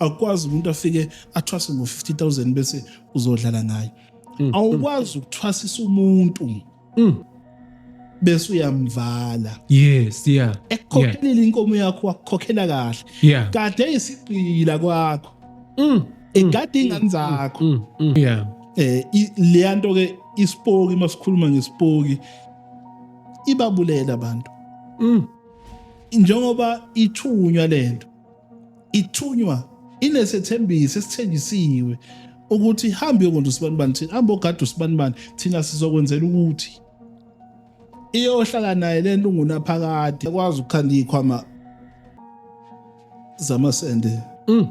akwazi umuntu afike athwase ngo 50000 bese uzodlala ngayo mm. awukwazi ukuthwasisa umuntu mm. bese uyamvala yes yeah ekukhokhela inkomo yakho wakukhokhela kahle yeah kade isigqila kwakho mm ingadi ingane zakho yeah eh leyanto ke isipoki masikhuluma ngesipoki ibabulela abantu njengoba ithunywa lento ithunywa inesethembiso esithenjisiwe ukuthi hambe yokwenza usibanibani thina hambe ogada usibanibani thina sizokwenzela ukuthi iyohlala naye le nto ungunaphakade ekwazi ukukhanda iy'khwama zamasende mm.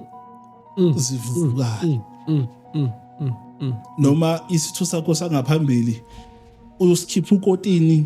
Mm. zivukane mm. noma isitho sakho sangaphambili uyosikhipha ukotini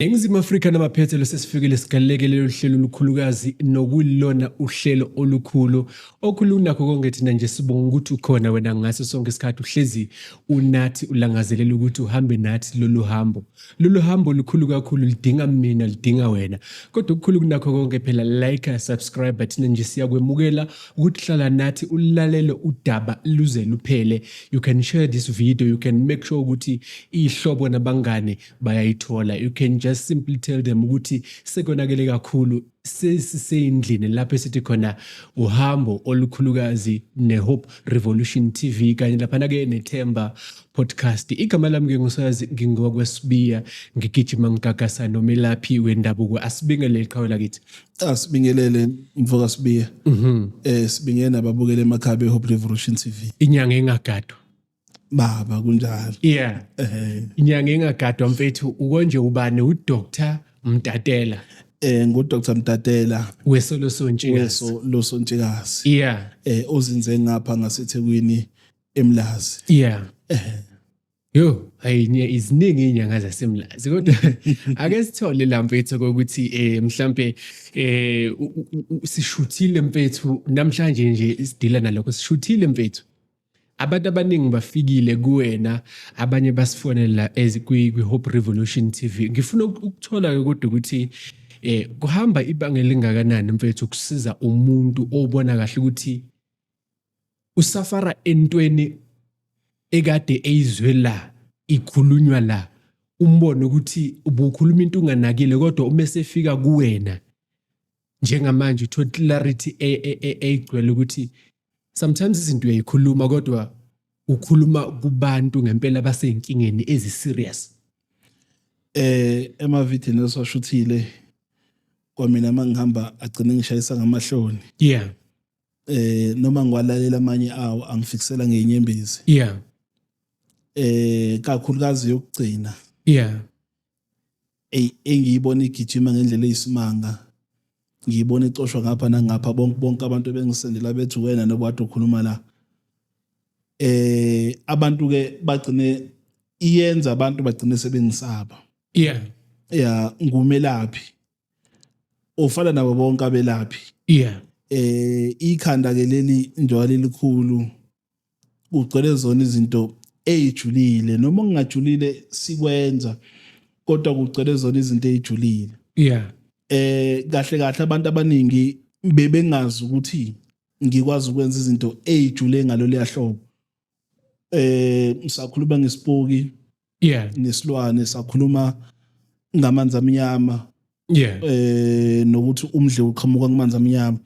Eningizimu Afrika namaphethelo sesifikile sigaleleke lelo hlelo olukhulukazi nokulona uhlelo olukhulu okhulunakho konke thina nje sibonga ukuthi ukhona wena ngaso sonke isikhathi uhlezi unathi ulangazelela ukuthi uhambe nathi lolu hambo lolu hambo lukhulu kakhulu lidinga mina lidinga wena kodwa okukhulu kunakho konke phela like subscribe thina nje siyakwemukela ukuthi hlala nathi ulalele udaba luze luphele you can share this video you can make sure ukuthi ihlobo nabangane bayayithola you can just simply tell them ukuthi sekonakele kakhulu sesiseyindlini lapho esithi khona uhambo olukhulukazi nehope revolution tv kanye laphana-ke nethemba podcast igama lami ke ngusazi ngingokwesibiya ngigijima ngigagasa nomelaphi wendabuko asibingelele qhawe lakithi asibingelele mfoka sibiya um mhm. eh, sibingelele nababukele emakhaya behope revolution tv inyanga engagadwa baba kunjalo yeah eh inyanga engagadwa mfethu ukonje ubani u doctor mtatela eh ngo doctor mtatela wesolo sontshikazi weso lo sontshikazi yeah eh ozinze ngapha ngasethekwini emlazi yeah eh Yo, hayinya iziningi inyanga zasemlazi kodwa ake sithole la mfethu kokuthi eh mhlambe eh sishuthile mfethu namhlanje nje isidila nalokho sishuthile mfethu Abantu abaningi bafikile kuwena abanye basifonela as kwi Hope Revolution TV. Ngifuna ukuthola ke kodwa ukuthi eh kuhamba ibanga elingakanani mfethu ukusiza umuntu obona kahle ukuthi usafara entweni ekade eyizwe la ikhulunywa la umbone ukuthi ubukhuluma into unganakile kodwa uma esefika kuwena njengamanje uthole clarity e, e, e, eyigcwele ukuthi sometimes izinto uyayikhuluma kodwa ukhuluma kubantu ngempela basezinkingeni ezi serious eh emavidini esashuthile kwamina mangihamba agcine ngishayisa ngamahloni yeah eh noma ngiwalalela amanye awo angifikisela ngenyembezi yeah eh kakhulukazi yokugcina yeah engiyibona igijima ngendlela eyisimanga ngiyibona icoshwa ngapha nangapha bonke bonke abantu bengisendela bethi wena noba kade ukhuluma la eh abantu ke bagcine iyenza abantu bagcine sebengisaba yeah yeah ngumelaphi ofana nabo bonke abelaphi yeah eh ikhanda ke leli njalo elikhulu kugcwele zona izinto eyijulile noma ngingajulile sikwenza kodwa kugcwele zona izinto eyijulile yeah eh kahle kahle abantu abaningi bebengazi ukuthi ngikwazi ukwenza izinto ezijule ngalolu yahlobo eh ngisakhuluma ngesipoki yeah nesilwane sakhuluma ngamanzi amnyama yeah eh nokuthi umdle uqhamuka kumanzi amnyama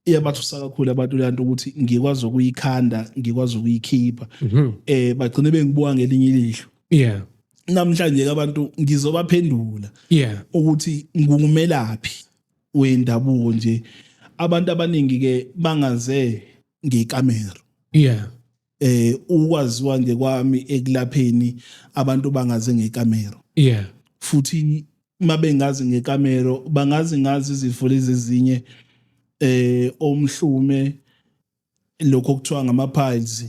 iyabathusa kakhulu abantu lento ukuthi ngikwazi ukuyikhanda ngikwazi ukuyikhipha mhm. eh bagcine bengibuka ngelinye ilihlo yeah namhlanje abantu ngizobaphendula yeah ukuthi ngungumelaphi wendabuko nje abantu abaningi ke bangaze ngekamera yeah eh ukwaziwa nje kwami ekulapheni abantu bangaze ngekamera yeah futhi mabengazi ngekamera bangazi ngazi izifo lezi ezinye eh omhlume lokho kuthiwa ngama piles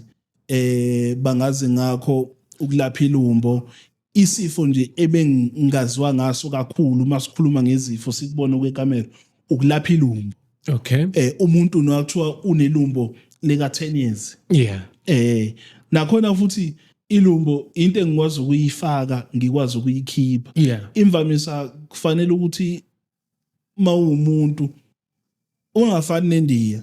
eh bangazi ngakho ukulapha ilumbo isifo nje ebengingaziwa ngaso kakhulu uma sikhuluma ngezifo sikubona kwekamera ukulapha ilumbo okay eh umuntu nokuthiwa unelumbo lika 10 years yeah eh nakhona futhi ilumbo into engikwazi ukuyifaka ngikwazi ukuyikhipha yeah imvamisa kufanele ukuthi uma uwumuntu ungafani nendiya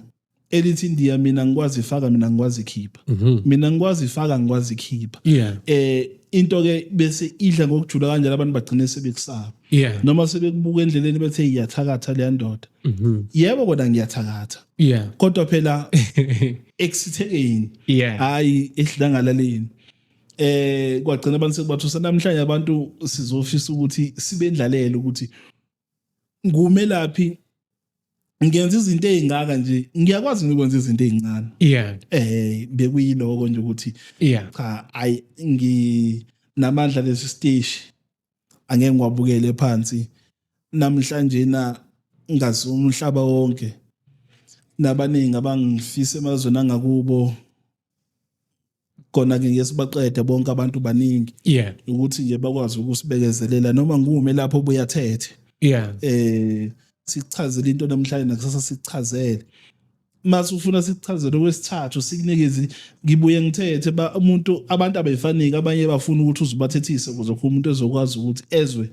elithi indiya mina ngikwazi ifaka mina ngikwazi ikhipha mhm. mina ngikwazi ifaka ngikwazi ikhipha eh into ke bese idla ngokujula kanjalo abantu bagcine sebekusaba yeah. noma sebekubuka endleleni bethe iyathakatha leya ndoda mm -hmm. yebo kodwa ngiyathakatha yeah. kodwa phela ekusithekeni yeah. hayi esidlangalaleni eh kwagcina abantu sekubathusa namhlanje abantu sizofisa ukuthi sibendlalele ukuthi ngumelaphi ngenza izinto ezingaka nje ngiyakwazi ngikwenza izinto ezincane yeah eh bekuyiloko nje ukuthi yeah cha ay ngi namandla lesi stage angeke ngiwabukele phansi namhlanje na ngazi umhlaba wonke nabaningi abangifisa emazweni angakubo khona ke ngeke sibaqede bonke abantu baningi yeah ukuthi nje bakwazi ukusibekezelela noma ngume lapho ubuya thethe yeah eh sichazele into namhlanje nakusasa sichazele mase ufuna sichazele okwesithathu sikunikeze ngibuye ngithethe ba umuntu abantu abefaniki abanye bafuna ukuthi uzibathethise ukuze umuntu ezokwazi ukuthi ezwe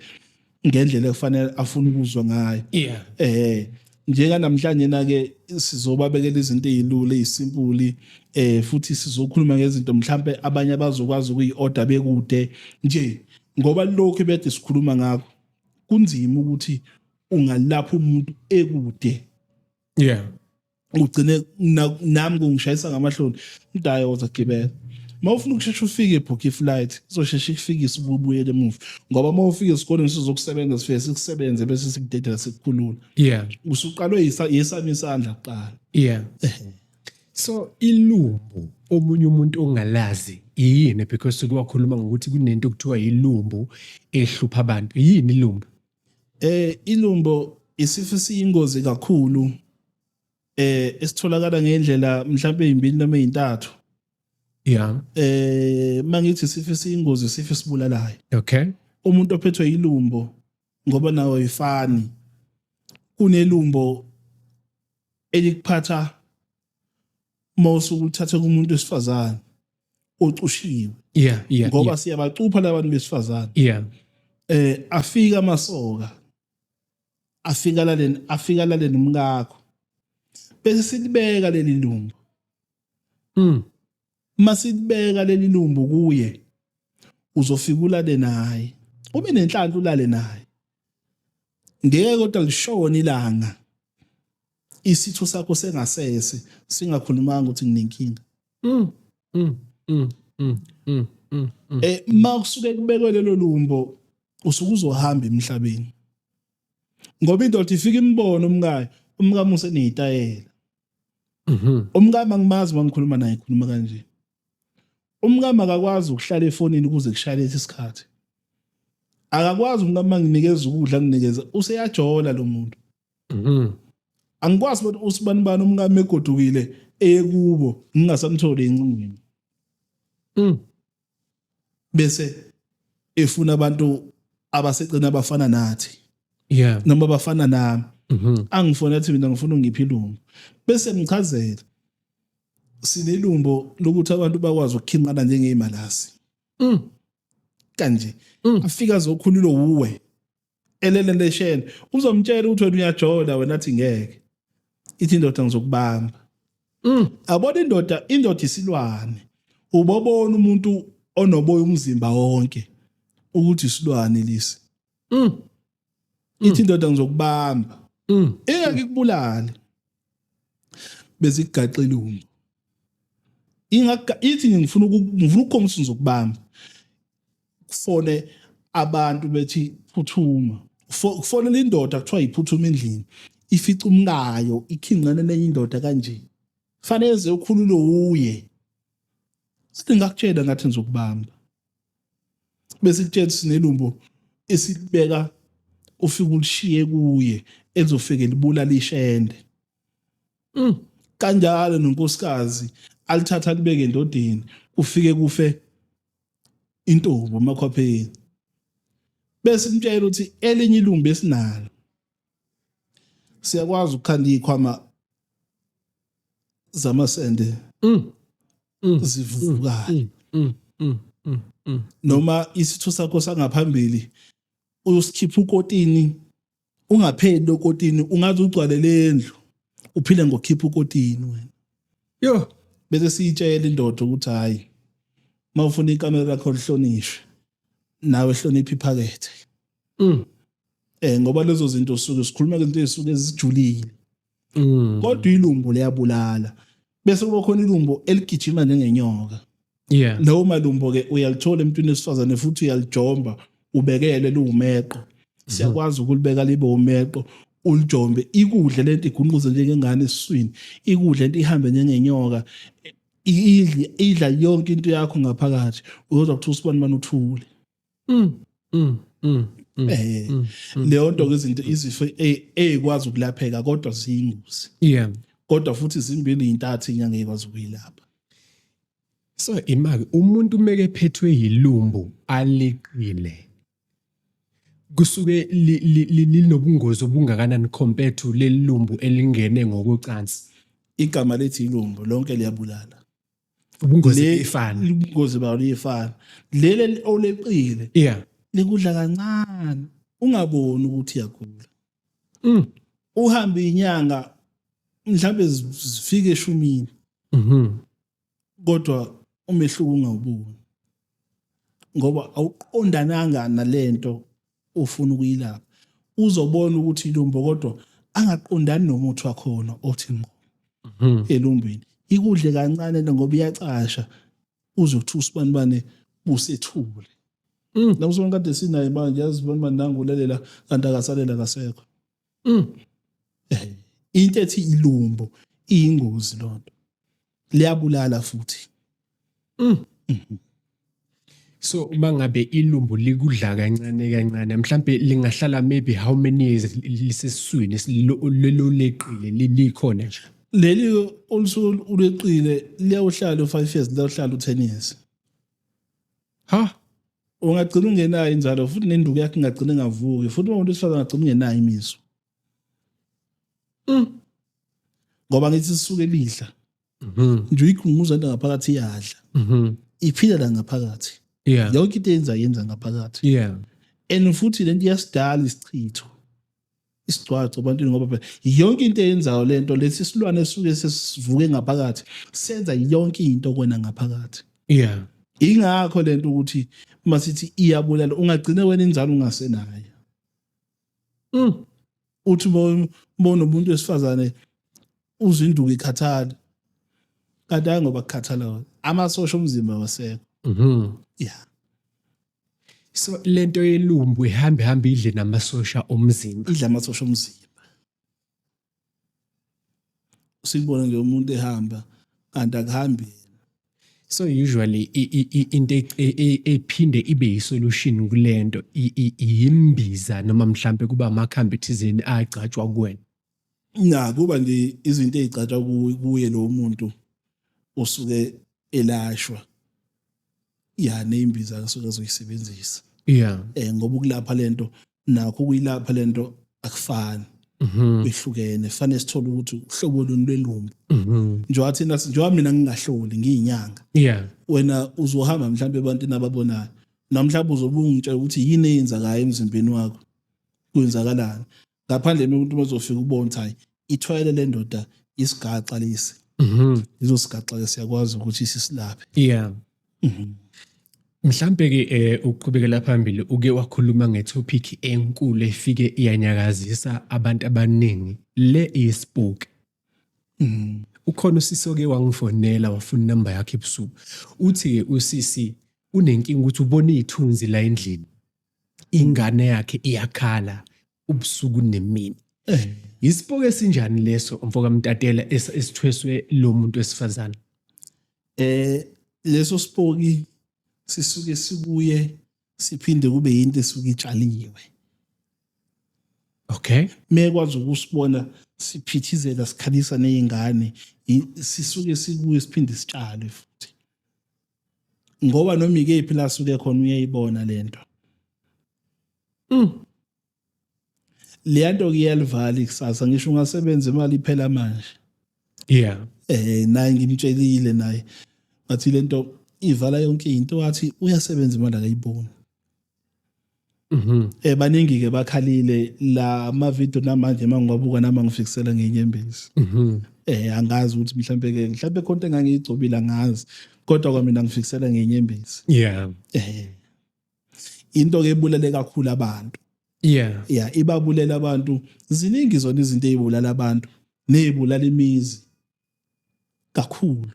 ngendlela efanele afuna ukuzwa ngayo yeah eh njeka namhlanje na ke sizobabekela izinto ezilula ezisimpuli eh futhi sizokhuluma ngezinto mhlambe abanye abazokwazi ukuyiorder bekude nje ngoba lokho bede sikhuluma ngakho kunzima ukuthi ungalapha umuntu ekude yeah ugcine nami kungishayisa ngamahloni umdaya woza gibela uma ufuna ukushesha ufike ebhukhe iflight izosheshe ikufikise ubuyele emuva ngoba uma ufike esikoleni sizokusebenza sifike sikusebenze bese sikudedela sikukhulula yeah usuqalwe yesami isandla kuqala yeah so ilumbu omunye umuntu ongalazi yini because kuwakhuluma ngokuthi kunento okuthiwa yilumbu ehlupha abantu yini ilumbu Eh ilumbo isifo esiyingozi kakhulu eh esitholakala ngendlela mhlawumbe ezimbili noma ezintathu. Yeah. Eh mangithi isifo esiyingozi isifo esibulalayo. Okay. Umuntu ophethwe ilumbo ngoba nawo ifani kunelumbo elikuphatha mawusuke uthathe kumuntu wesifazane ocushiwe yeah yeah ngoba yeah. siyabacupha labantu besifazane yeah eh afika amasoka afika laleni afika laleni umkakho bese silibeka leli lumbu mm masilibeka leli lumbu kuye uzofika ulale naye ube nenhlanhla ulale naye ngeke kodwa lishona ilanga isitho sakho sengasese singakhulumanga ukuthi nginenkinga mm, mm, mm, mm, mm, mm, mm. eh uma kusuke kubekwe lelo lumbo usuke uzohamba emhlabeni ngoba indoda ifika imbona umkayo umkamuse nezitayela mhm umkama ngimazi mangikhuluma naye khuluma kanje umkama akakwazi ukuhlala efonini kuze kushayele isikhathi akakwazi umkama nginikeza ukudla nginikeza useyajola lo muntu mhm angikwazi ukuthi usibani bani umkami egodukile eyekubo ngingasamtholi encingweni mm. bese efuna abantu abasecina abafana nathi yeah noma abafana nami mhm angifona athi mina ngifuna ungiphi ilungu bese ngichazela sinelumbo lokuthi abantu bakwazi ukukhinqana njengezimalasi mm kanje mm. afika zokhulilo wuwe elele lesheni uzomtshela ukuthi wena uyajola wena athi ngeke ithi indoda ngizokubamba mm. abona indoda indoda isilwane ubobona umuntu onoboya umzimba wonke ukuthi isilwane lisi mm. mm. ithi indoda ngizokubamba mm. ingeke ikubulale bezikugaxile umntu ingaka ithi ngifuna ngifuna ukukhombisa ngizokubamba kufone abantu bethi phuthuma kufonela indoda kuthiwa yiphuthuma endlini ifica umkayo ikhinqane nenye indoda kanje fanele ze ukhululo uye sithi ngakutshela ngathi ngizokubamba bese kutshela sinelumbo esibeka ufike ulishiye kuye elizofike libulala ishende mm. kanjalo nonkosikazi alithatha libeke endodeni ufike kufe intombi emakhwapheni bese umtshela ukuthi elinye ilungu besinalo siyakwazi ukukhanda ikhwama zamasende mm. mm. zivukane mm. noma isitho sakho sangaphambili usikhipha ukotini ungapheli lokotini ungaze ugcwale lendlu uphile ngokhipha ukotini wena yo bese siyitshela indoda ukuthi hayi mawufuna ikamera lakho lihlonishwe nawe hlonipha iphakethe mm eh ngoba lezo zinto suke sikhuluma izinto ezisuke ezijulile Mm. kodwa ilumbo liyabulala bese kuba khona ilumbo eligijima njengenyoka Yeah. lawo malumbo ke uyalithola emntwini wesifazane futhi uyalijomba ubekele liwumeqo siyakwazi ukulibeka libe umeqo ulijombe ikudle lento igunquze njengengane esiswini ikudle lento ihambe njengenyoka i- idle- idla yonke into yakho ngaphakathi uyozwa kuthiwa usibani bani uthule mm mm mm, mm eh mm, mm, leyo nto izinto izifo ezikwazi ukulapheka kodwa ziyingozi yeah kodwa futhi izimbili intathu inyanga ekwazi ukuyilapha so imaki umuntu umeke phethwe yilumbu aliqile kusuke linobungozi obungakanani compared to lelumbu elingene ngokocansi igama lethi ilumbu lonke liyabulala ubungozi Le- ifana ubungozi bawo liyefana leli oleqile yeah likudla kancane ungaboni ukuthi iyagula Mm. uhambe inyanga mhlawumbe zi- zifike eshumini mhm kodwa umehluko ungawuboni ngoba awuqondananga nalento ofuna ukuyilapha uzobona ukuthi ilumbo kodwa angaqondani nomuthi wakhona othi ngqo mhm. elumbini ikudle kancane ngoba iyacasha uzothi usibanibane busethule mm. nakusona kade sinaye manje yazi banibani nangulalela kanti akasalela kasekho mm. Eh, into ethi ilumbo iyingozi lonto liyabulala futhi mm. mm-hmm. so uma ngabe ilumbu likudla kancane kancane mhlambe lingahlala maybe how many years lisesiswini lololeqile likhona nje leli olusuke uleqile liyawuhlala u-five years liyawuhlala u-ten years ha ungagcina ungenayo inzalo futhi nenduku yakhe ingagcina ingavuki futhi uma umuntu wesifazane angagcina ungenayo imizwa mm. ngoba ngithi sisuke lidla mhm. nje uyikhunguza into ngaphakathi iyadla mhm. iphila la ngaphakathi yonke into eyenza yenza ngaphakathi and futhi lento iyasidala isichitho isigcwagcwa ebantwini ngoba phela yonke into eyenzayo le nto lesi silwane esuke sesivuke ngaphakathi senza yonke into kwena ngaphakathi yeah ingakho le nto ukuthi uma sithi iyabulala ungagcine wena inzalo ungasenayo mm. uthi bona umuntu wesifazane uzinduku ikhathala kanti hayi ngoba kukhathala wona amasosha omzimba wasekho mhm. yeah so lento yelumbu ihambe hambe idle namasosha omzimba idla amasosha omzimba usikubona nje umuntu ehamba kanti akuhambi yena so usually i- i- i- into e- e- e- ephinde ibe yisolution kulento i- i- yimbiza noma mhlambe kuba amakhambi thizeni agcatshwa kuwena na kuba nje izinto ezigcatshwa kuye lo muntu osuke elashwa ya neimbiza asuke azoyisebenzisa yeah eh ngoba ukulapha lento nakho ukuyilapha lento akufani mhm. kwehlukene fanele sithole ukuthi uhlobo luni lwelumbu mhm. njengoba thina njengoba mina ngingahloli ngiyinyanga yeah wena uzohamba mhlawumbe ebantwini ababonayo namhlawumbe uzobungitsha ukuthi yini eyenzakayo emzimbeni wakho kwenzakalani ngaphandle umuntu mezofika ubona ukuthi hayi ithwele le ndoda isigaxa lesi mhm izosigaxa siyakwazi ukuthi sisilaphe yeah mhm. mhlambe ke eh, uqhubekela phambili uke wakhuluma ngetopic enkulu efike iyanyakazisa abantu abaningi le ispook mhm. ukhona usisi oke wangifonela wafuna inamba yakhe ebusuku uthi usisi unenkinga ukuthi ubona ithunzi la endlini ingane yakhe iyakhala ubusuku nemini eh. yisipoke esinjani leso mfoka mtatela esithweswe lo muntu wesifazane eh leso sipoki sisuke sibuye siphinde kube yinto esuke itshaliwe okay mekwazi ukusibona siphithizela sikhalisa nezingane sisuke sibuye siphinde sitshalwe futhi ngoba noma ikephi la suke khona uyayibona lento mm leyanto kuyalivala ikusasa ngisho ungasebenza imali iphela manje yeah eh naye ngimtshelile naye ngathi lento ivala yonke into wathi uyasebenza imali akayiboni Mhm. Eh baningi ke bakhalile la ma video namanje mangiwabuka nama ngifikisela ngenyembezi. Mhm. Eh angazi ukuthi mhlambe ke mhlambe konke engangiyigcobile angazi kodwa kwamina ngifikisela ngenyembezi. Yeah. Eh into ke ebulale kakhulu abantu. Yeah. Yeah ibabulele abantu ziningi zona izinto ezibulala abantu nezibulala imizi. kakhulu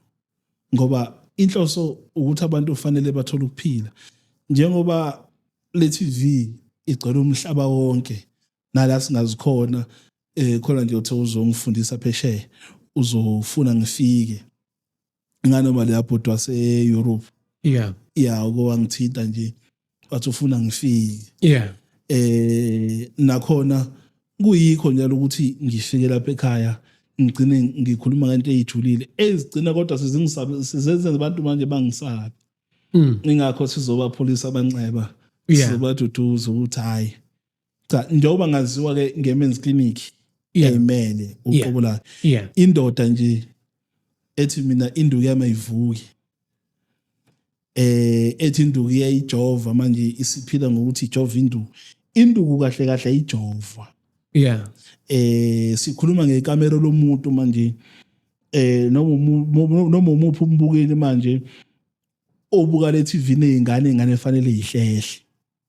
ngoba inhloso ukuthi abantu kufanele bathole ukuphila njengoba le TV igcwele umhlaba wonke nala singazikhona eh khona nje uthe uzongifundisa phesheya uzofuna ngifike nganoma le yabhodwa se-Europe yeah yeah uke wangithinta nje wathi ufuna ngifike yeah eh nakhona kuyikho njalo ukuthi ngifike lapha ekhaya ngigcine ngikhuluma ngento eyijulile ezigcina kodwa sizingisabe sizenze abantu manje bangisabe mm. ingakho sizobapholisa abanxeba sizobaduduza ukuthi hayi cha njengoba ngaziwa ke ngemen's clinic ayimele uqobo layo indoda nje ethi mina induku yami ayivuki eh ethi induku iyayijova manje isiphila ngokuthi ijova induku induku kahle kahle ayijova yeah eh sikhuluma ngekamera lomuntu manje eh noma noma umuphi umbukeli manje obuka le TV nezingane ingane efanele ihlehle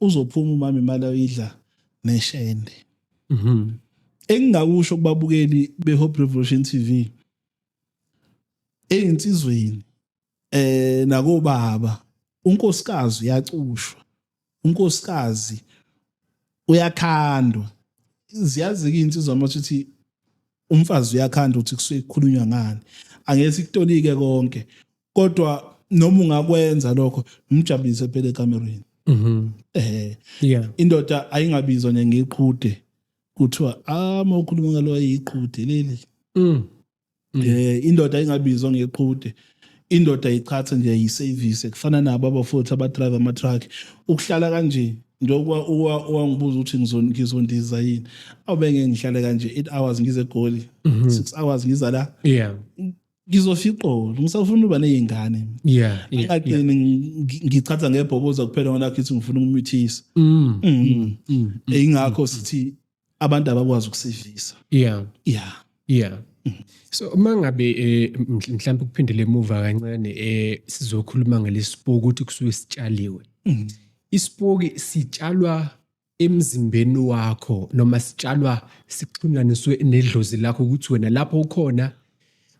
uzophuma umama imali ayidla neshende mhm engingakusho kubabukeli beHope Revolution TV eyinsizweni eh nakobaba unkosikazi uyacushwa unkosikazi uyakhandwa ziyazi ke insizwa amathuthi umfazi uyakhanda ukuthi kusuke kukhulunywa ngani angeke sikutolike konke kodwa noma ungakwenza lokho umjabulise phela ekamereni mhm eh yeah indoda ayingabizwa nje ngeqhude kuthiwa ah mawukhuluma ngalo ayiqhude leli mm. mm. eh indoda ayingabizwa ngeqhude indoda iqhathe nje yiservice kufana nabo abafowethu abadrive ama-truck ukuhlala kanje njengoba wangibuza ukuthi ngizondiza yini awube ngeke ngihlale kanje eight hours ngize egoli mhm. six hours ngiza la yeah ngizofiqola ngisafuna uba nezingane yeah akaqini ngichatha ngebhoboza kuphela ngona kithi ngifuna ukumithisa mm, mm, mm, ingakho sithi abantu abakwazi ukusidlisa yeah yeah yeah so uma ngabe eh, mhlawumbe ukuphindele emuva kancane eh sizokhuluma ngelesipoki ukuthi kusuke sitshaliwe mm. isipoki sitshalwa emzimbeni wakho noma sitshalwa sixhunyaniswe nedlozi lakho ukuthi wena lapho ukhona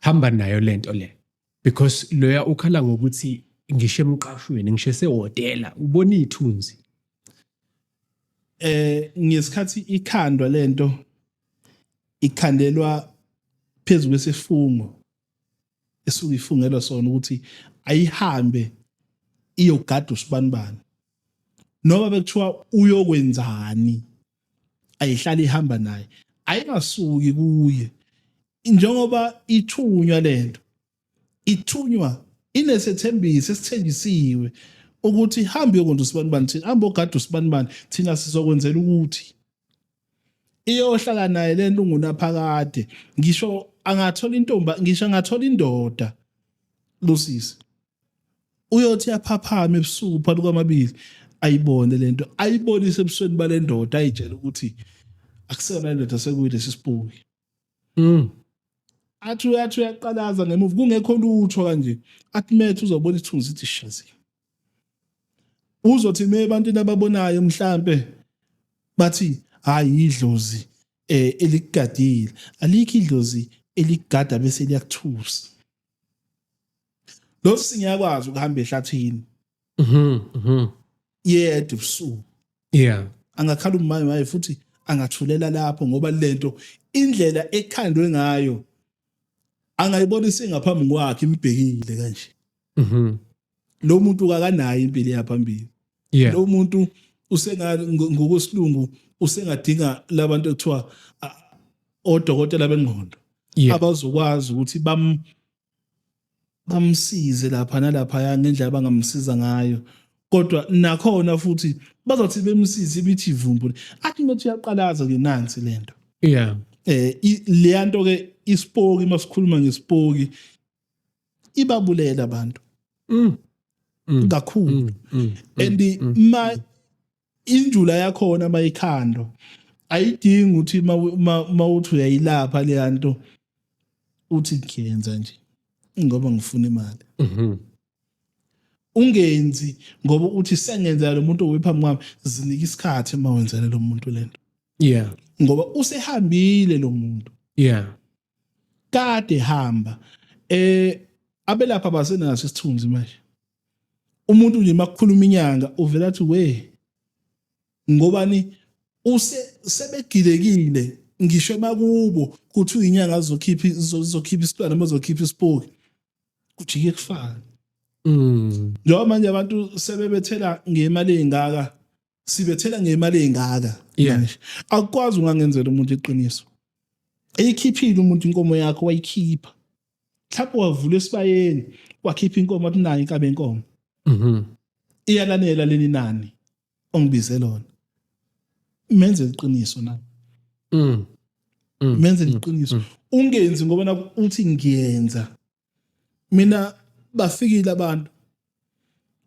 hamba nayo lento le because loya ukhala ngokuthi ngisho emqashweni ngisho esehotela ubona ithunzi eh ngesikhathi ikhandwa lento ikhandelwa phezulu kwesifungo esuke ifungelwa sona ukuthi ayihambe iyogada usibanibani noma bekuthiwa uyokwenzani ayihlale ihamba naye ayingasuki kuye njengoba ithunywa lento ithunywa inesethembiso esithenjisiwe ukuthi hambe yokwenza usibanibani thina hambe ogada usibanibani thina sizokwenzela ukuthi iyohlala naye le nto ungunaphakade ngisho angathola intomba ngisho angathola indoda losisi uyothi aphaphame ebusuku phakathi kwamabili ayibone lento ayibonise ebusweni balendoda ayitshela ukuthi akusona indoda sekuyilesi sipuki mm athi uyathi uyaqalaza ngemuva kungekho lutho kanje athi methu uzobona ithunzi ithi shazi uzothi me ebantwini ababonayo mhlambe bathi hayi idlozi eh eligadile alikho idlozi eligada bese liyakuthusa lo singiyakwazi ukuhamba ehlathini mhm mhm yedwa ubusuku yeah angakhala umaye maye futhi angathulela lapho ngoba lento indlela ekhandwe ngayo angayibona isingaphambi kwakhe imbhekile kanje mhm lo muntu kakanayo impilo yaphambili yeah lo muntu usenga ngokusilungu usengadinga labantu ekuthiwa odokotela bengqondo abazokwazi ukuthi bam bamsize lapha nalaphaya ngendlela abangamsiza ngayo kodwa nakhona futhi bazothi bemsize ibithi ivumbu athi ukuthi uyaqalaza ke nansi lento yeah eh leya nto ke isipoki masikhuluma ngesipoki ibabulela abantu mm. mm. kakhulu mm. mm. and ma injula yakhona mayikhandwa ayidingi ukuthi mawuthi uyayilapha leya nto uthi ngiyenza nje ngoba ngifuna imali mhm. ungenzi ngoba uthi sengenzela lo muntu owephambi kwami zinika isikhathi uma wenzela lo muntu le nto yeah ngoba usehambile lo muntu yeah kade hamba eh abelapha basenaso isithunzi manje umuntu nje makukhuluma inyanga uvela athi we ngobani use sebegilekile ngisho emakubo kuthi uyinyanga azokhipha izokhipha isitwana bazokhipha isipoki kujike kufana mm njengoba manje abantu sebebethela ngemali engaka sibethela ngemali engaka Yeah. manje akukwazi ungangenzela umuntu iqiniso eyikhiphile umuntu inkomo yakho wayikhipha mhlawumbe wavula esibayeni wakhipha inkomo athi nayo inkabe yenkomo Mhm. iyalanela leli nani ongibize lona menze iqiniso na Mm. Mm. menze iqiniso ungenzi ngoba naku- uthi ngiyenza mina bafikile abantu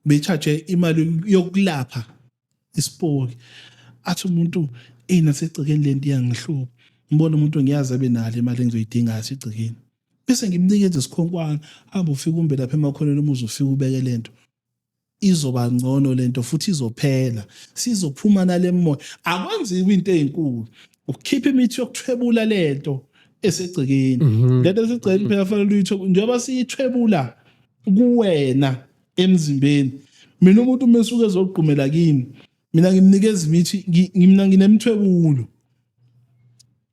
bechaje imali yokulapha isipoki athi umuntu ina segcikeni lento iyangihlupha ngibona umuntu ngiyazi abe nalo imali engizoyidinga sigcikeni bese ngimnikeza isikhonkwana hamba ufike umbe lapha emakhoneni umuzi ufike ubeke lento izoba ngcono lento futhi izophela sizophuma nalemoya akwenziwa into ezinkulu ukukhipha imithi yokuthwebula lento esegcekeni mhm. lento esegcekeni phela fanele uyithwe njengoba siyithwebula kuwena emzimbeni mina umuntu mesuke ezogqumela kimi mina ngimnikeza imithi mina nginemthwebulo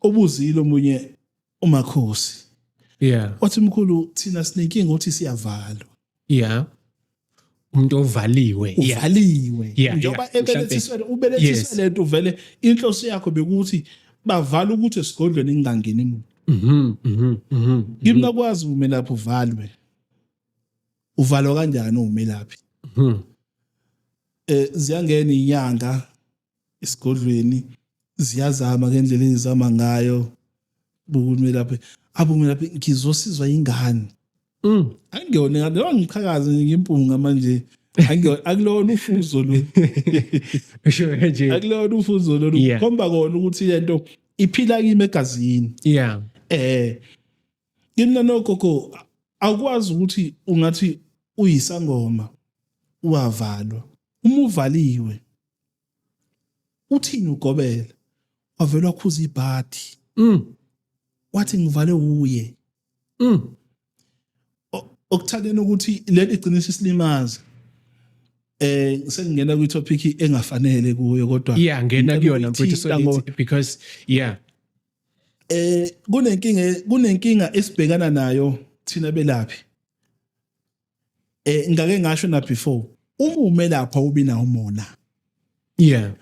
obuzile omunye umakhosi yeah wathi mkhulu thina sinenkinga ukuthi siyavalwa yeah umuntu ovaliwe uvaliwe njengoba ebelethiswele ubelethiswele lento uvele inhloso yakho bekuthi bavala ukuthi esigodlweni ingangeni muntu mhm mhm mhm ngimna mhm. kwazi umelaphi uvalwe uvalwa kanjani umelaphi mhm eh ziyangena inyanga esigodlweni ziyazama ngendlela engizama ngayo bukumelaphi abumelaphi ngizosizwa ingane mm. angiyona ngane lo ngiqhakaze ngimpunga manje akulona ufuzo lo usho kanje akulona ufuzo lo khomba kona ukuthi lento iphila kimi egazini yeah eh kimi nanogogo akwazi ukuthi ungathi uyisangoma uwavalwa uma uvaliwe uthini ugobela wavela wakhuza ibhadi mm. wathi ngivale uye mm. okuthandeni ukuthi leli gcinisa isilimaza eh sengingena kwi topic engafanele kuyo kodwa yeah ngena kuyona mfethu so because yeah eh kunenkinga kunenkinga esibhekana nayo thina belaphi eh ngake ngasho na before uma ume lapha ubina umona yeah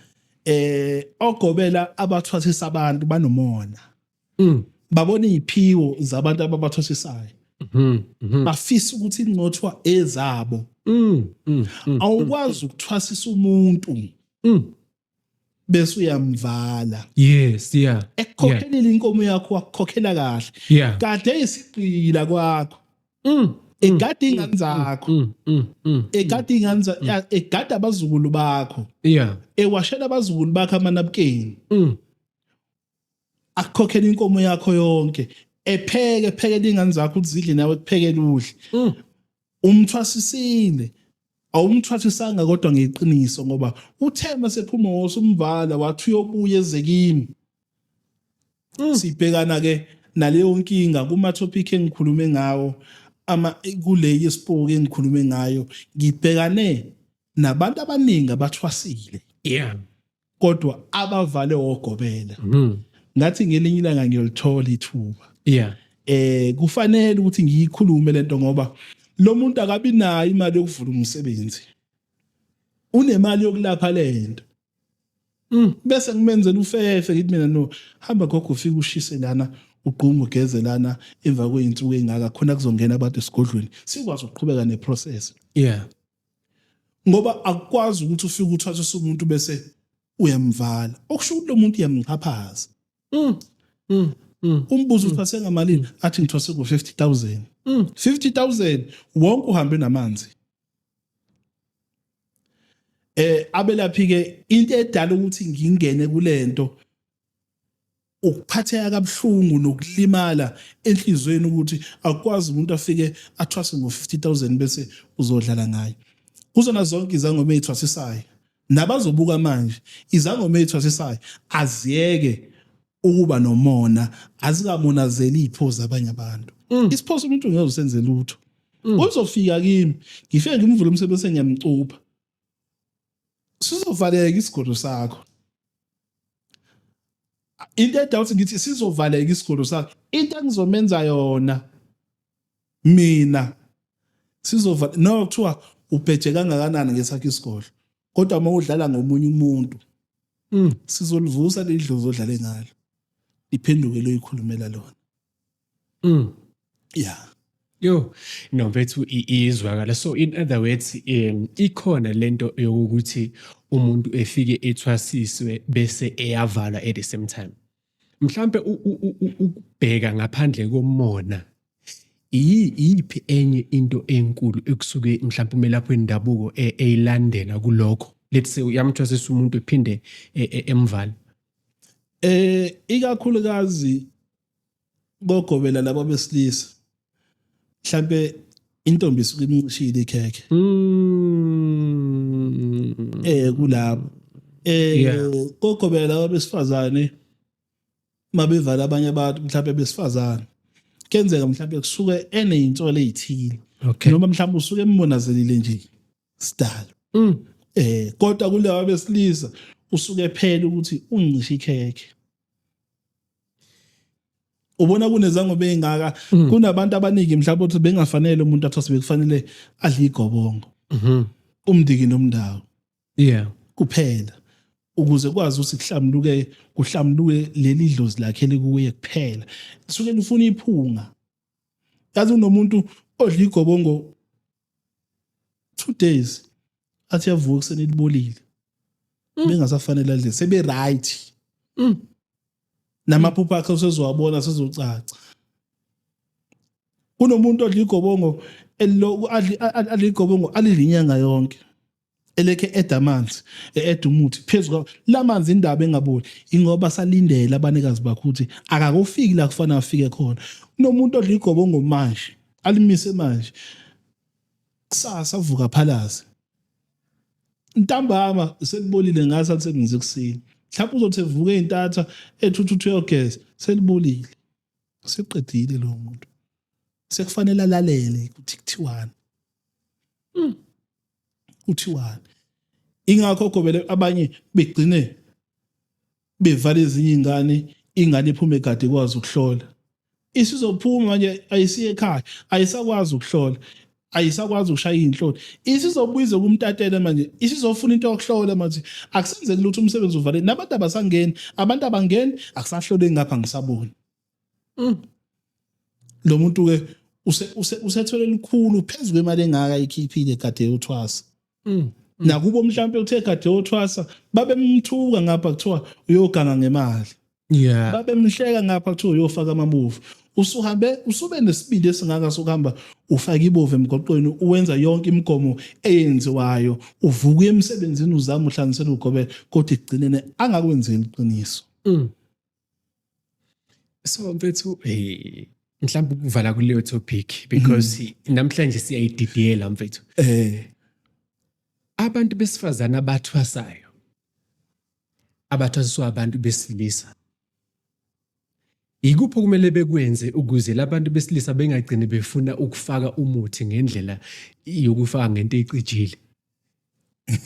eh ogobela abathwasisa abantu banomona mm. babona iziphiwo zabantu ababathwasisayo mhm, mhm. bafisa ukuthi incothwa ezabo mm, mm, awukwazi ukuthwasisa umuntu bese uyamvala yes yeah ekukhokhelela inkomo yakho wakukhokhela kahle yeah kade isigqila kwakho mm egade mm, ingane mm, zakho mm, egade ingane egade abazukulu bakho yeah ewashela abazukulu bakho amanabukeni akukhokhele inkomo yakho yonke epheke phekele ingane zakho uzidle nawe kuphekele udle mm. umthwasisile awumthwasisanga kodwa ngeqiniso ngoba uthe masephuma wose umvala wathi uyobuya ezekimi mm. sibhekana ke naleyo nkinga kuma topic engikhulume ngawo ama kule yesipoke engikhulume ngayo ngibhekane nabantu abaningi abathwasile yeah kodwa abavale ogobela mhm. ngathi ngelinye ilanga ngiyolithola ithuba yeah eh kufanele ukuthi ngiyikhulume lento ngoba lo muntu akabi nayo imali yokuvula umsebenzi unemali yokulapha lento mm. bese ngimenzela ufefe ngithi mina no hamba gogo ufike ushise lana ugquma ugeze lana emva kweyinsuku engaka khona kuzongena abantu esigodlweni sikwazi ukuqhubeka neprocess yeah ngoba akukwazi ukuthi ufike uthathe usumuntu bese uyamvala okusho ukuthi lo muntu uyamchaphaza mm. mm. mm. umbuzo ukuthi asengamalini athi ngithose ku 50000 50000 wonke uhambe namanzi eh abelaphi ke into edala ukuthi ngingene kulento ukuphatheka kabuhlungu nokulimala enhlizweni ukuthi akwazi umuntu afike athwase ngo-50000 bese uzodlala ngayo kuzona zonke izangoma ey'thwasisayo nabazobuka manje izangoma ey'thwasisayo aziyeke ukuba nomona azikamonazeli iy'phozi abanye abantu mm. isiphoso umuntu ngeke usenze lutho mm. uzofika kimi ngifike ngimvule umsebenzi sengiyamcupha sizovaleka isigodlo sakho into edawuthi ngithi sizovaleka isigodlo sakho into engizomenza yona mina sizova no kuthiwa ubheje kangakanani ngesakhe isigodlo kodwa uma udlala ngomunye umuntu mm. sizolivusa leli dlozi odlale ngalo liphenduke loyikhulumela lona Mm. Yeah. Yo, no mfethu iyizwakala. So in other words, um, ikhona lento yokuthi umuntu efike ethwasiswe bese eyavala at the same time. Mhlambe ukubheka ngaphandle komona iyiphi enye into enkulu ekusuke mhlawumbe umelaphi wendabuko e, eyilandela kulokho let's say uyamthwasisa umuntu ephinde e, e, emvala eh ikakhulukazi bogobela laba besilisa mhlambe intombi isuke imnqishile ikhekhe Mm. eh kulabo eh Yeah. kokobela laba besifazane mabevala abanye abantu mhlawumbe besifazane kenzeka mhlawumbe kusuke enezinsolo ezithile Okay. noma mhlawumbe usuke embonazelile nje sidalo Mm. eh kodwa kulaba besilisa usuke phela ukuthi uncisha ikhekhe ubona kunezango beyingaka mm. kunabantu abaningi mhlawumbe ukuthi bengafanele umuntu athi sebekufanele adle igobongo mm-hmm. umndiki nomndawo yeah kuphela ukuze kwazi ukuthi kuhlamuluke kuhlamuluke leli dlozi lakhe likuye kuphela suke lifuna iphunga yazi unomuntu odla igobongo two days athi yavuka ekuseni elibolile mm. bengasafanele adle sebe right mm. namaphupho akhe usezowabona sezocaca kunomuntu odla igobongo elilokhu adla igobongo alidla inyanga yonke eleke eda amanzi eda umuthi phezu kwa lamanzi indaba engaboli ingoba salindele abanikazi bakho ukuthi akakufiki la kufanele afike khona kunomuntu odla igobongo manje alimise manje kusasa uvuka phalaze ntambama selibolile ngathi alisebenzi ekuseni mhlawumbe uzothi evuke intatha ethuthuthu yogeza selibolile seqedile lo muntu sekufanele alalele ukuthi kuthiwani hmm. kuthiwani ingakho gobele abanye begcine bevala ezinye ingane ingane iphume kade kwazi ukuhlola isizophuma manje ayisiye ekhaya ayisakwazi ukuhlola ayisakwazi ukushaya izinhloni isizobuyize kumtatele manje isizofuna into yokuhlola manje akusenzeki lutho umsebenzi uvale nabantu abasangeni abantu abangeni akusahlole ngapha ngisabona mm. lo muntu ke usethwele likhulu phezulu kwemali engaka ikhiphile kade yothwasa mm. nakubo mhlawumpe uthe kade yothwasa babemthuka ngapha kuthiwa uyoganga ngemali yeah babemhleka ngapha kuthiwa uyofaka amabovu usuhambe usube nesibindi esingaka sokuhamba ufaka ibovu emgoqweni uwenza yonke imigomo eyenziwayo uvuka emsebenzini uzama uhlanganisela ugobela kodwa ekugcineni angakwenzeli iqiniso mm. So mfethu eh mhlawumbe ukuvala kuleyo topic because mm-hmm. namhlanje siyayididiyela mfethu. Eh abantu besifazane abathwasayo abathwasiswa abantu besilisa Yikuphi okumele bekwenze ukuze labantu besilisa bengagcini befuna ukufaka umuthi ngendlela yokufaka ngento ecijile?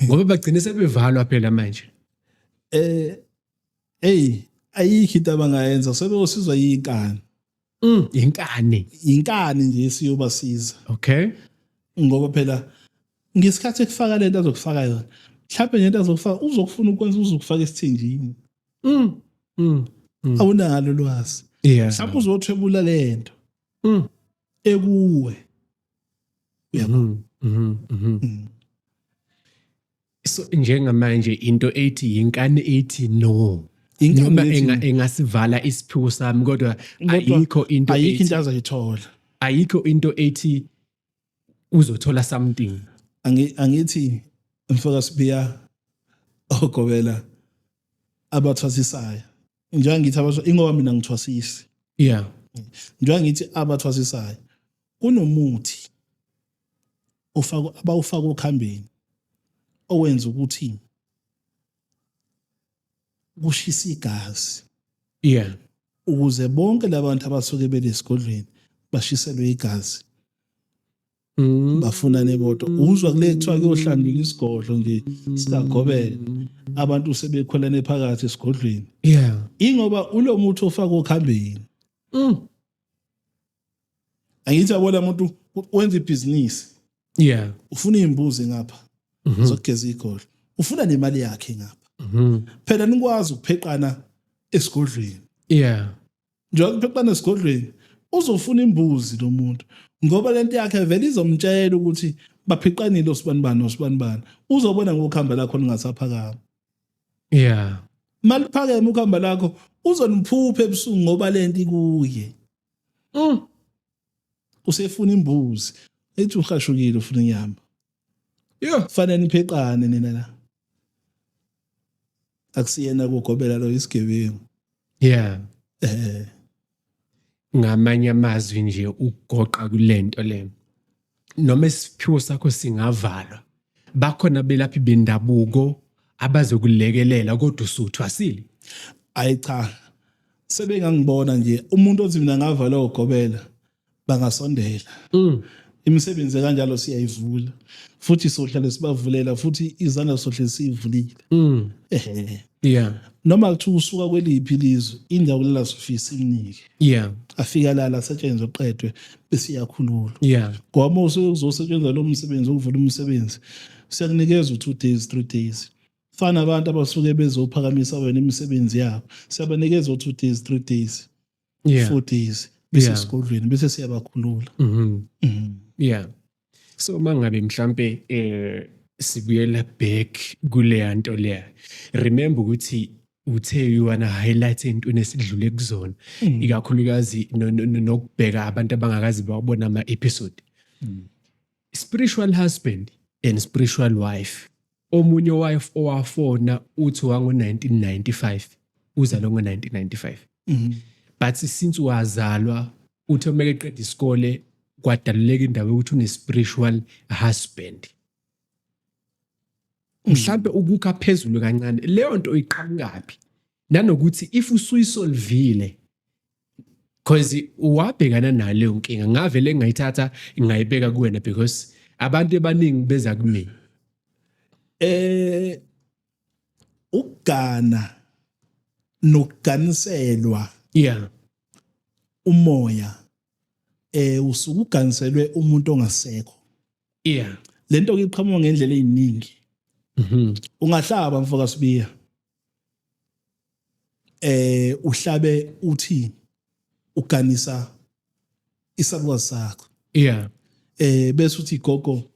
Ngoba bagcine sebevalwa phela manje. Eh eyi ayikho into abangayenza sebeyosizwa yinkani mm, yinkani yinkani nje esiyobasiza okay ngoba phela ngesikhathi ekufaka lento azokufaka yona mhlawumbe nento azokufaka uzokufuna ukwenza uzokufaka esithinjini mm, mm, mm. awunalo lwazi yeah. mhlawumbe uzothwebula le nto mm. ekuwe uyabona mm -hmm, mm -hmm. mm. so njengamanje into ethi yinkani ethi no noma engasivala isiphiwo sami kodwa ayikho into ayikho into azoyithola ayikho into ethi uzothola something angithi mfoka sibiya ogobela abathwasisayo njengoba ngithi abasho ingoba mina ngithwasisi yeah njengoba ngithi abathwasisayo kunomuthi ufaka abawufaka okhambeni owenza ukuthi kushisa igazi yeah ukuze bonke labantu abasuke belesigodlweni bashiselwe igazi Mm. bafunane bodwa uzwa kule kuthiwa kuyohlanjulwa isigodlo nje sikagobela abantu sebekhwelane phakathi esigodlweni yeah ingoba ulo muthi ofaka okhambeni Mm. angithi abola muntu wenza ibhizinisi yeah ufuna izimbuzi ngapha mhm. zokugeza igolo ufuna nemali yakhe ngapha mhm. phela nikwazi ukupheqana esigodlweni yeah njengoba kupheqana esigodlweni uzofuna imbuzi lo muntu ngoba lento yakhe vele izomtshela ukuthi baphiqanile osibanibani osibanibani uzobona ngokuhamba lakho ningasaphakama yeah maliphakeme ukuhamba lakho uzoniphupha ebusuku ngoba lento ikuye mm. usefuna imbuzi ethi uhashukile ufuna inyama yho fanele nipheqane nina la akusiyena kugobela lo isigebengu yeah eh ngamanye amazwi nje ugoqa kulento lena noma isiphiwo sakho singavalwa bakhona belaphi bendabuko abazokulekelela kodwa usuthwasile ayi cha sebengangibona nje umuntu othi mina ngavala ugobela bangasondela mm. imisebenzi kanjalo siyayivula futhi sohlale sibavulela futhi izandla sohlale siyivulile mm. ehe yeah noma kuthiwa usuka kweliphi lizwe indawo kulala sifisa imnike yeah afika lala asetshenzwe qedwe bese iyakhululwa yeah ngoba usuke kuzosetshenzwa lo msebenzi ukuvula umsebenzi siyakunikeza u2 days 3 days fana abantu abasuke bezophakamisa wena imisebenzi yabo siyabanikeza u2 days 3 days yeah 4 days bese yeah. sigodlweni bese siyabakhulula mhm mm yeah so uma ngabe mhlampe eh sibuyela back kuleya nto leya remember ukuthi uthe uyona highlight entweni esidlule kuzona mm. ikakhulukazi nokubheka abantu abangakazi bawabona ama episode mm. spiritual husband and spiritual wife Omunye owayefu- owafona uthi wango-1995 uzalwe ngo-1995 Mhm. but since wazalwa uthe uma eqeda isikole kwadaluleka indaba yokuthi une-spiritual husband mhlampe ukukha phezulu kancane leyo nto iqhamukaphi nanokuthi if usuyisolvile cause wabhekana naleyo nkinga ngavele ngayithatha ngayibeka kuwena because abantu abaningi beza kumina eh ukugana nokuganiselwa yeah umoya eh usuke uganiselwe umuntu ongasekho yeah lento iqhamuka ngendlela eziningi mhm ungahlaba mfoka sibiya eh uhlabe uthi uganisa isalukazi sakho yeah eh bese uthi gogo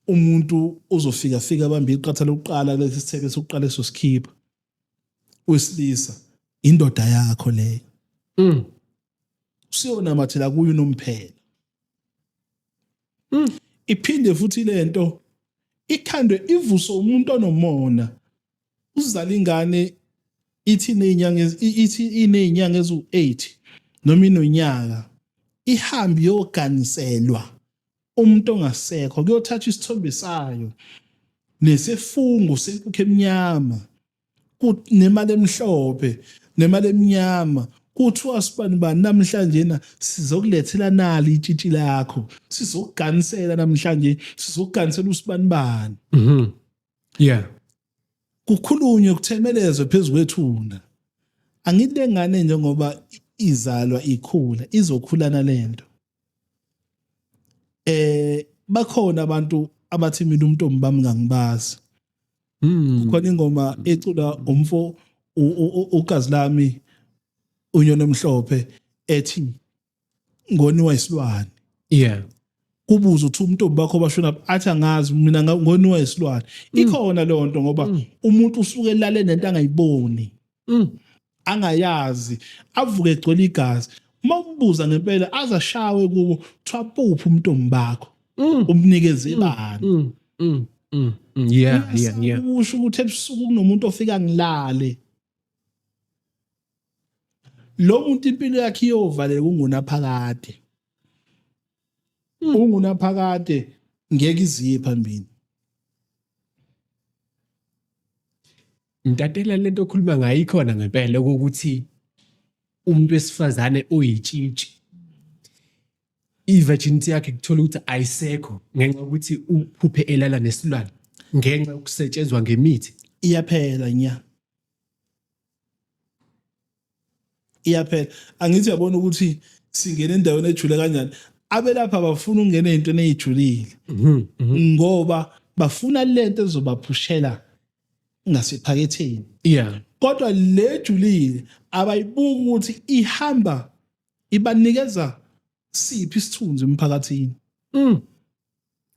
umuntu uzofika fika abambe iqatha lokuqala kulesi sithebe sokuqala esosikhipha uyisilisa indoda yakho leyo mm usiyona mathela kuyo nomphela mm iphinde futhi lento ikhandwe ivuso umuntu onomona uzala ingane ithi inezinyanga ithi inezinyanga ezu8 noma inonyaka ihambe yoganiselwa umuntu ongasekho kuyothatha isithombe sayo nesifungo senkukhu emnyama nemali emhlophe nemali emnyama kuthiwa sibani bani namhlanje na sizokulethela nali itshitshi lakho sizokuganisela namhlanje sizokuganisela usibani bani mhm. yeah kukhulunywe kuthemelezwe phezukwethuna angilengane njengoba izalwa ikhula izokhulana lento eh bakhona abantu abathi mina umntombi bami ngangibazi mm. khona ingoma ecula umfo ugazi lami unyona emhlophe ethi ngoniwa isilwane yeah ubuze ukuthi umuntu obakho bashona athi angazi mina ngoniwa isilwane mm. ikhona leyo nto ngoba mm. umuntu usuke elale nento angayiboni mm. angayazi avuke egcwele igazi uma umbuza ngempela azashawe kubo kuthiwa puphi umuntu ombakho umnikeze ibani yeah yeah yeah usho ukuthi ebusuku kunomuntu ofika ngilale lo muntu impilo yakhe iyovaleka ungunaphakade hmm. ungunaphakade ngeke iziye phambili ntatela lento okhuluma ngayo ikhona ngempela ukuthi umuntu wesifazane oyitshitshi i-virginity yakhe kuthola ukuthi ayisekho ngenxa yokuthi uphuphe elala nesilwane ngenxa yokusetshenzwa ngemithi iyaphela nya iyaphela angithi uyabona ukuthi singena endaweni ejule kanjani abelapha bafuna ukungena ezintweni ezijulile mhm, mhm. ngoba bafuna lento ezobaphushela ngasephaketheni yeah kodwa lejulile abayibuki ukuthi ihamba ibanikeza siphi isithunzi emphakathini mm.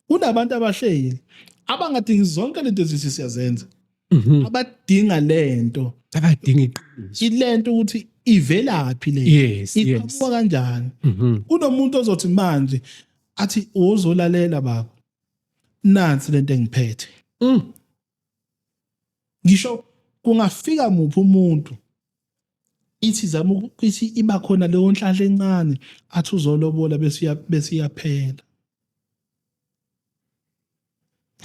kunabantu abahleli abangadingi zonke lento ezisi siyazenza mhm. abadinga lento abadinga iqiniso ilento ukuthi ivelaphi le yes, iqhamuka kanjani mhm. kunomuntu ozothi manje athi uzolalela baba nansi lento engiphethe mm. ngisho kungafika muphi umuntu ithi zama ukuthi iba khona leyo nhlahla encane athi uzolobola besiya besiyaphela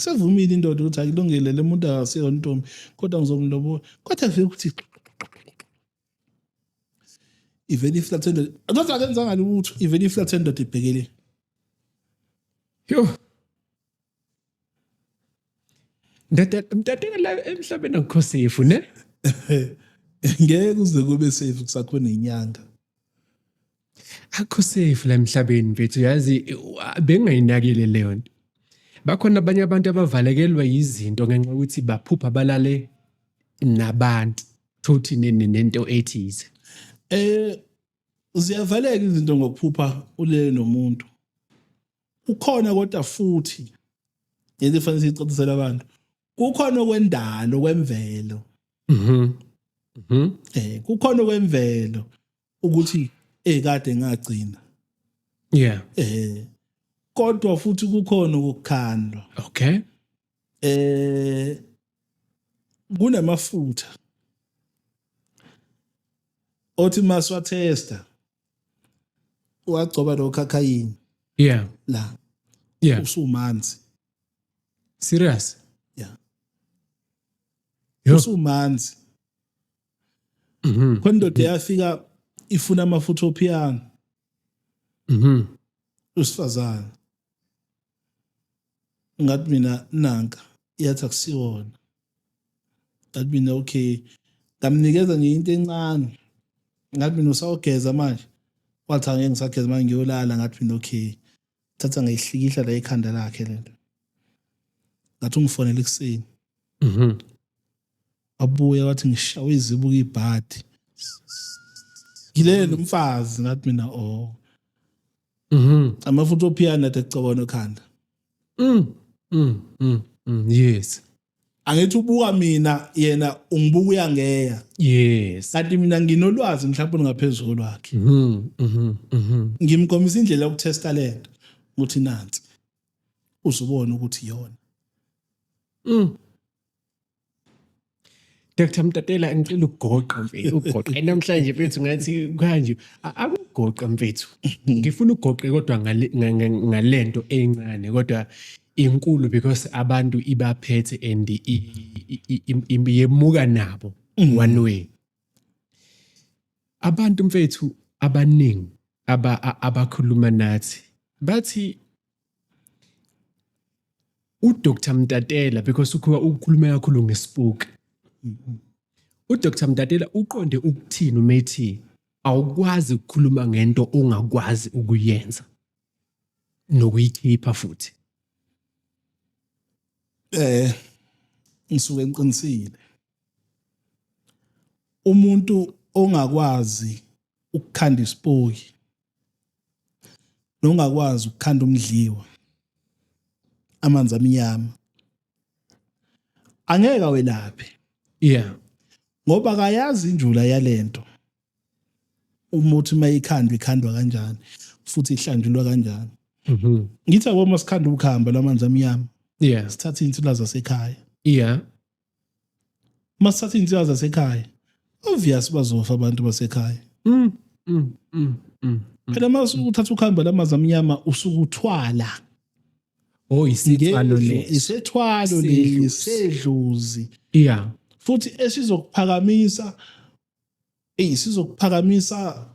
sevumile indoda ukuthi ayilungile le muntu akasiyo ntombi kodwa ngizomlobola kodwa vele ukuthi ivele iflathe indoda kodwa akenzanga lutho ivele iflathe indoda ibhekele yho mtateka la emhlabeni akukho safe ne ngeke uze kube safe kusakhona inyanga akho safe la emhlabeni mfethu yazi bengayinakile leyo nto bakhona abanye abantu abavalekelwa yizinto ngenxa ukuthi baphupha balale nabantu thothi nento ethize eh ziyavaleka izinto ngokuphupha ulele nomuntu ukhona kodwa futhi ngeke fanele sicacisele abantu kukhona okwendalo kwemvelo mhm mhm eh kukhona okwemvelo ukuthi eh kade ngagcina yeah eh kodwa futhi kukhona ukukhandwa okay eh kunamafutha othi maswa tester wagcoba nokhakhayini yeah la yeah usumanzi serious yeah usumanzi mhm kondoda yafika ifuna amafutha ophiyana mhm usifazana ngathi mina nanka yathi akusiwona ngathi mina okay ngamnikeza nje into encane ngathi mina usawugeza manje wathi angeke ngisageza manje ngiyolala ngathi mina okay thatha ngayihlikihla la ekhanda lakhe lento ngathi ungifonela ekuseni mhm. wabuya wathi ngishawe izibuko ibhadi ngilele nomfazi ngathi mina oh mhm amafutha ophiyana athi ecobona ekhanda mm mm mm, mm yes angithi ubuka mina yena ungibuka uyangeya yes kanti mina nginolwazi mhlawumbe ngaphezulu kwakhe mhm mhm, mhm. ngimkomisa indlela yokutesta lento ukuthi nansi uzubona ukuthi yona mm Dr Mtatela ngicela ukugoqa mfethu ugoqe namhlanje mfethu ngathi kanje akugoqa mfethu ngifuna ugoqe kodwa ngalento encane kodwa inkulu because abantu ibaphethe and yemuka nabo mm. one way abantu mfethu abaningi abakhuluma nathi bathi uDr Mtatela because ukhuwa ukukhuluma kakhulu ngespook uDr Mtatela uqonde ukuthini uma ethi awukwazi ukukhuluma ngento ongakwazi ukuyenza nokuyikhipha futhi eh ngisuke ngiqinisile umuntu ongakwazi ukukhanda isipoki nongakwazi ukukhanda umdliwa amanzi amnyama angeke awelaphe yeah ngoba akayazi injula yalento umuthi mayikhandwa ikhandwa kanjani futhi ihlanjulwa kanjani mhm ngithi yabo masikhanda ukuhamba lamanzi amnyama yeah sithatha insila zasekhaya yeah masithatha iy'nsiba zasekhaya obvious bazofa abantu basekhaya mm, mm, mm, mm, mm. phela uma uthatha ukuhamba lamazi amnyama usuke uthwala oh isithwalo lesi isethwalo lesi sedluzi yeah futhi esizokuphakamisa eyi sizokuphakamisa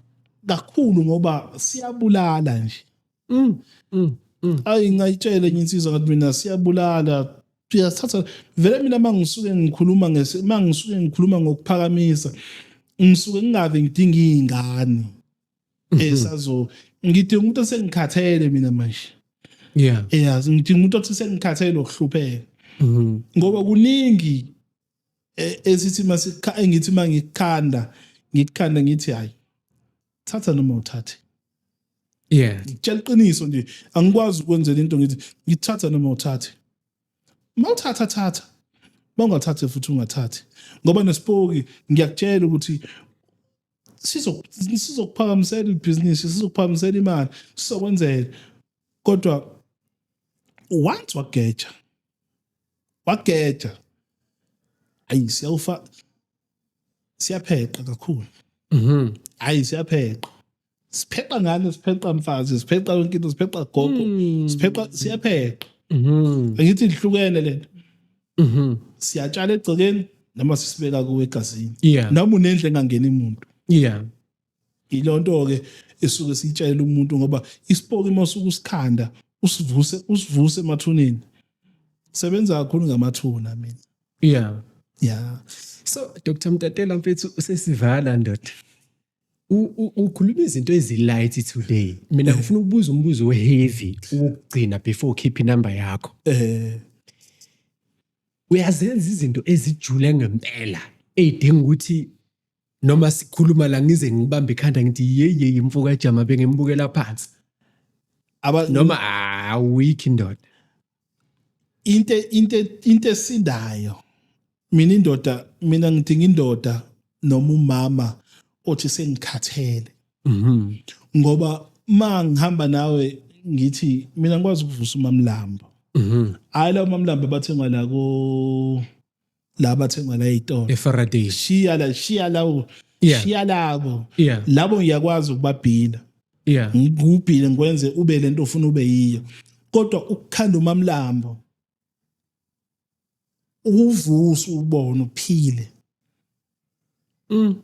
kakhulu ngoba siyabulala nje mm, mm, mm. ayi ngayitshele enye insizwa ngathi mina siyabulala siyathatha vele mina uma ngisuke ngikhuluma uma ngisuke ngikhuluma ngokuphakamisa ngisuke ngingave ngidinga iy'ngane mhm. esazo ngidinga umuntu osengikhathele mina manje yeah yeah ngidinga umuntu othi sengikhathele nokuhlupheka mhm. ngoba kuningi e, esithi masikha engithi mangikhanda ngikhanda ngithi hayi thatha noma uthathe yeah ngitshela iqiniso nje angikwazi ukwenzela into ngithi ngithatha noma uthathe mawuthatha thatha bawungathathe futhi ungathathi ngoba nesipoki ngiyakutshela ukuthi sizokuphakamisela ibhizinisi sizokuphakamisela imali sizokwenzela kodwa once wageja wageja ayi siyawufa siyapheqa kakhulu mhm ayi siyapheqa sipheqa ngane sipheqa mfazi sipheqa yonke into sipheqa gogo hmm. sipheqa siyapheqa mhm angithi ihlukene lento mhm siyatshala egcekeni noma sisibeka kuwe egazini yeah. noma unendle engangeni umuntu yeah Ilonto-ke esuke siyitshayela umuntu ngoba isipoki uma usuke usikhanda usivuse usivuse emathuneni sebenza kakhulu ngamathuna mina yeah yeah so dr mtatela mfethu usesivala ndoda ukhuluma izinto ezilight today mina eh. ngifuna ukubuza umbuzo weheavy ukugcina before ukhiphe inumber yakho eh uyazenza izinto ezijule ngempela eyidinga ukuthi noma sikhuluma la ngize ngibambe ikhanda ngithi yeye imfuka ejama bengembukela phansi aba noma awiki ndoda into into into esindayo mina indoda mina ngidinga indoda noma umama othi sengikhathele mhm ngoba ma ngihamba nawe ngithi mina ngikwazi ukuvusa umamlambo mhm hayi la umamlambo bathengwa la ko la bathengwa la ey'tolo efaraday shiya la shiya lawo Yeah. shiya labo Yeah. labo ngiyakwazi ukubabhina yeah ngikubhile ngikwenze ube le nto ofuna ube yiyo kodwa ukukhanda umamlambo uvusa ubona uphile mm.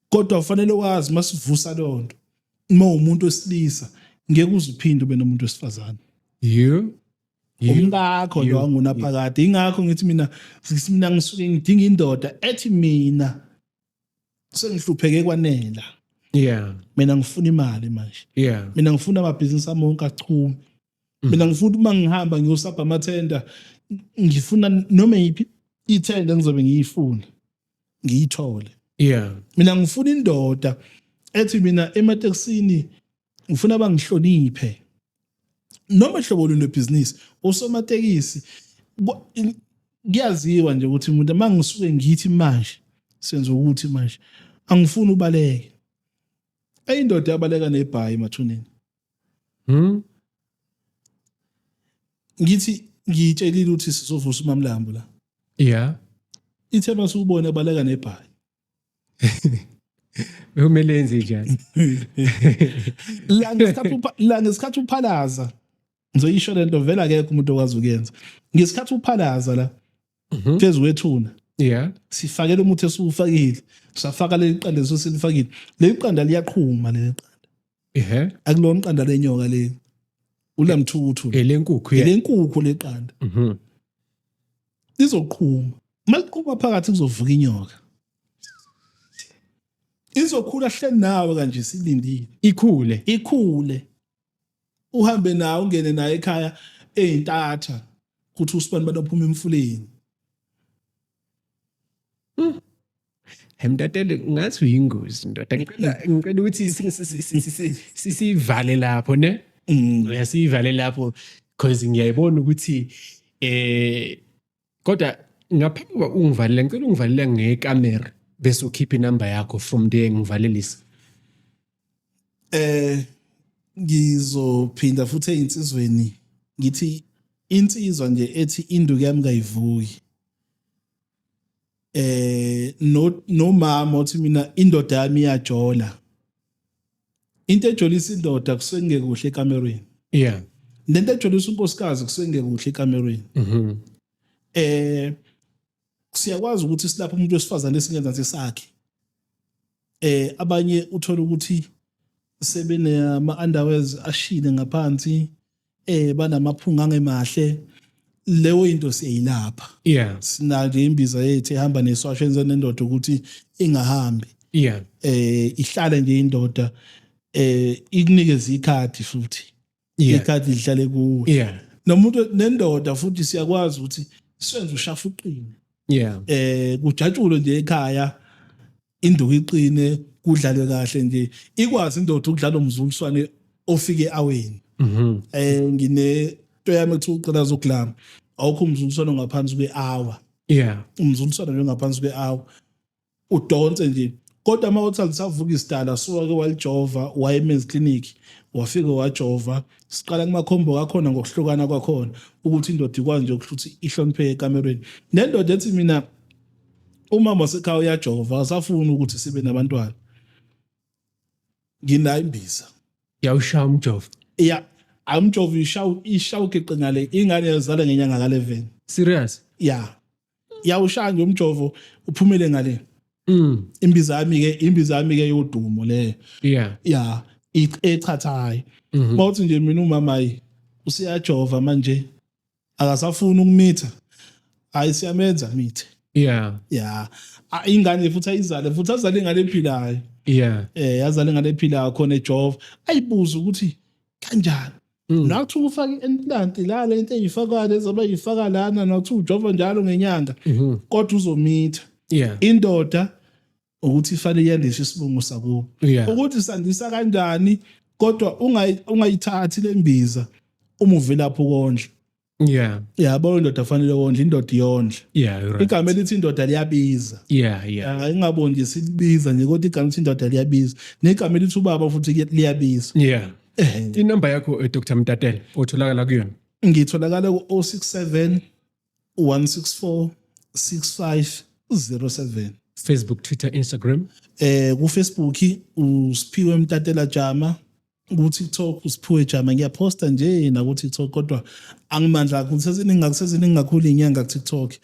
kodwa ufanele wazi masivusa lonto uma umuntu wesilisa ngeke uziphinde ube nomuntu wesifazane yeah umkakho lo angunaphakade ingakho ngithi mina mina ngisuke ngidinga indoda ethi mina sengihlupheke kwanela yeah mina ngifuna imali manje yeah mina ngifuna amabhizinisi amonke achume mm. mina ngifuna uma ngihamba ngiyosabha amathenda ngifuna noma yiphi ithenda ngizobe ngiyifuna ngiyithole yeah mina ngifuna indoda ethi mina ematekisini ngifuna bangihloniphe noma hlobo luni lwebhizinisi usomatekisi kuyaziwa nje ukuthi umuntu uma ngisuke ngithi manje senza ukuthi manje angifuni ubaleke ayindoda yabaleka nebhayi emathuneni Hmm? Ngithi ngiyitshelile ukuthi sizovusa umamlambo la. Yeah. Ithe masubona baleka nebhayi. Bekumele yenze njani? La ngesikhathi la ngesikhathi uphalaza ngizoyisho lento vela akekho umuntu okwazi ukuyenza. Ngesikhathi uphalaza la Mhm. phezu kwethuna yeah sifakele umuthi esiwufakile safaka leli qanda esesilifakile leli qanda liyaqhuma leli qanda ehe akulona iqanda lenyoka leli ulamthuthu elenkukhu yeah elenkukhu leqanda Mhm. lizoqhuma uma liqhuma phakathi kuzovuka inyoka izokhula hle nawe kanje silindile ikhule ikhule uhambe naye ungene naye ekhaya eyintatha ukuthi usibani bantu aphuma emfuleni hmm. Mntatele ngathi uyingozi ndoda ngicela ngicela ukuthi sisivale lapho ne mm. uyasivale lapho because ngiyayibona ukuthi eh kodwa ngaphambi kokuba ungivalele ngicela ungivalele ngekamera bese ukhipha inamba yakho from there ngivalelise eh ngizophinda futhi einsizweni ngithi insizwa nje ethi induku yami kayivuki eh no nomama uthi mina indoda yami iyajola into ejolisa indoda kusuke kungekuhle ekamerweni yeah lento ejolisa unkosikazi kusuke kungekuhle ekamerweni mhm eh siyakwazi ukuthi silapha umuntu wesifazane esingenza nje sakhe eh abanye uthola ukuthi sebenama underwears ashile ngaphansi eh banamaphunga angemahle leyo into siyilapha yeah sinake imbiza yethu ehamba neswasho enze nendoda ukuthi ingahambi yeah eh ihlale nje indoda eh ikunikeza ikhathi futhi ikhathi lihlale kuwe yeah nomuntu nendoda futhi siyakwazi ukuthi senze ushafuqine yeah eh kujatshulwe nje ekhaya induku iqine kudlalwe kahle nje ikwazi indoda ukudlala umzuliswane ofike awini mhm. eh ngine to yami ethi uqala zokulama awukho umzuliswane ngaphansi kwehour yeah umzuliswane nje ngaphansi kwehour udonse nje kodwa uma uthi alisavuka isidala suwake walijova wayemenzi clinic wafike wajova siqala kumakhombo kakhona ngokuhlukana kwakhona ukuthi indoda ikwazi nje ukuthi ihloniphe ekamerweni nendoda ethi mina umama wasekhaya uyajova akasafuni ukuthi sibe nabantwana nginayo imbiza yawushaya umjovo ya amjova ishawu ishawu geqe ngale ingane yazala ngenyanga ka 11 serious ya yawushaya nje umjovo uphumele ngale mm imbiza yami ke imbiza yami ke yodumo le yeah ya echathayo Mhm. bawuthi nje mina umama yi usiyajova manje akasafuni ukumitha hayi siyamenza mithe yeah yeah ingane futhi ayizale futhi azale ingane ephilayo yeah eh yazale ingane ephilayo khona ejova ayibuza ukuthi kanjani mm. nakuthi ufake implant la le nto eyifaka lezoba yifaka lana nakuthi ujova njalo ngenyanga mm-hmm. kodwa uzomitha yeah indoda ukuthi ifanele yandiswe isibongo sakubo Yeah. ukuthi sandisa kanjani kodwa ungayi- ungayithathi le mbiza uma uvelaphi ukondla yeah yabo indoda fanele wondla indoda iyondla yeah you're right. igama elithi indoda liyabiza yeah yeah Ah, ingaboni nje silibiza nje kodwa igama elithi indoda liyabiza negama elithi ubaba futhi liya- liyabiza yeah Eh, inamba yakho eh, dr mtatele otholakala kuyona ngitholakala ku-067 164 6507 Facebook, Twitter, Instagram. Eh ku Facebook uSphiwe Mtatela Jama, ku TikTok uSphiwe Jama ngiyaposta nje na ku TikTok kodwa angimandla kakhulu seziningi ngakuseziningi kakhulu inyanga ku TikTok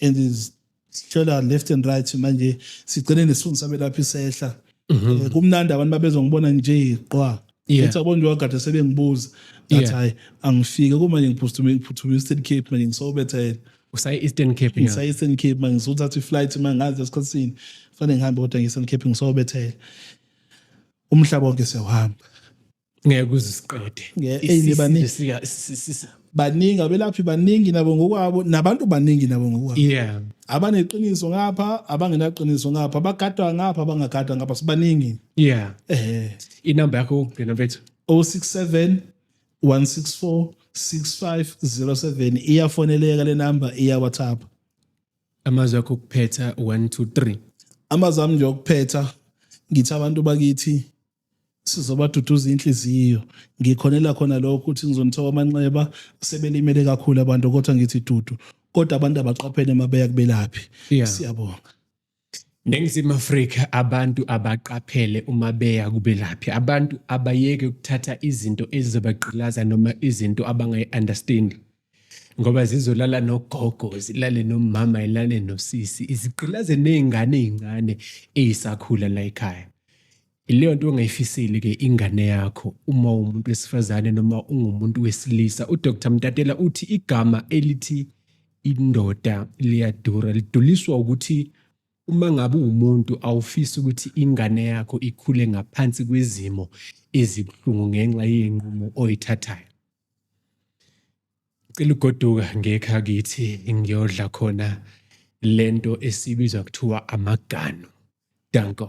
and is sitshela left and right manje sigcine nesifundo sabelaphi sehla Mhm. Eh, kumnandi abantu babezongibona nje qwa Yeah. ethi abonje wagade sebengibuza ngathi Yeah. hayi angifike kumanje ngiphuthume ngiphuthume eastern cape manje ngisobethele usaye eastern cape yeah. ngisa eastern cape manje ngisothatha i-flight manje ngazi esikhathini fanele ngihambe kodwa ngi-eastern cape ngisobethele umhlaba wonke siyawuhamba ngeke uzisiqede Yeah, Isi- eyi, baningi. sifika- si- si- si- baningi abelaphi baningi nabo ngokwabo nabantu baningi nabo ngokwabo yeah abaneqiniso ngapha abangenaqiniso ngapha abagadwa ngapha abangagadwa ngapha sibaningi yeah eh inamba yakho yokugcina mfethu 067 164 6507 iyafoneleka le number iya WhatsApp amazwi akho okuphetha 1 2 3 amazami nje okuphetha ngithi abantu bakithi sizobaduduza inhliziyo ngikhonela khona lokho ukuthi ngizonithoka amanxeba sebelimele kakhulu abantu kodwa ngithi dudu kodwa abantu abaqaphele mabeya kubelaphi yeah. siyabonga Ningizimu Afrika abantu abaqaphele uma beya kubelaphi abantu abayeke ukuthatha izinto ezizobagqilaza noma izinto abangayi-understand ngoba zizolala nogogo zilale nomama ilale nosisi izigqilaze nezingane ezincane ezisakhula la ekhaya ileyo nto ongayifiseli ke ingane yakho uma umuntu wesifazane noma ungumuntu wesilisa uDr Mtatela uthi igama elithi indoda liyadura liduliswa ukuthi uma ngabe umuntu awufisi ukuthi ingane yakho ikhule ngaphansi kwezimo ezibuhlungu ngenxa yenqumo oyithathayo Cela ugoduka ngekha kithi ngiyodla khona lento esibiza kuthiwa amaganu. Danko.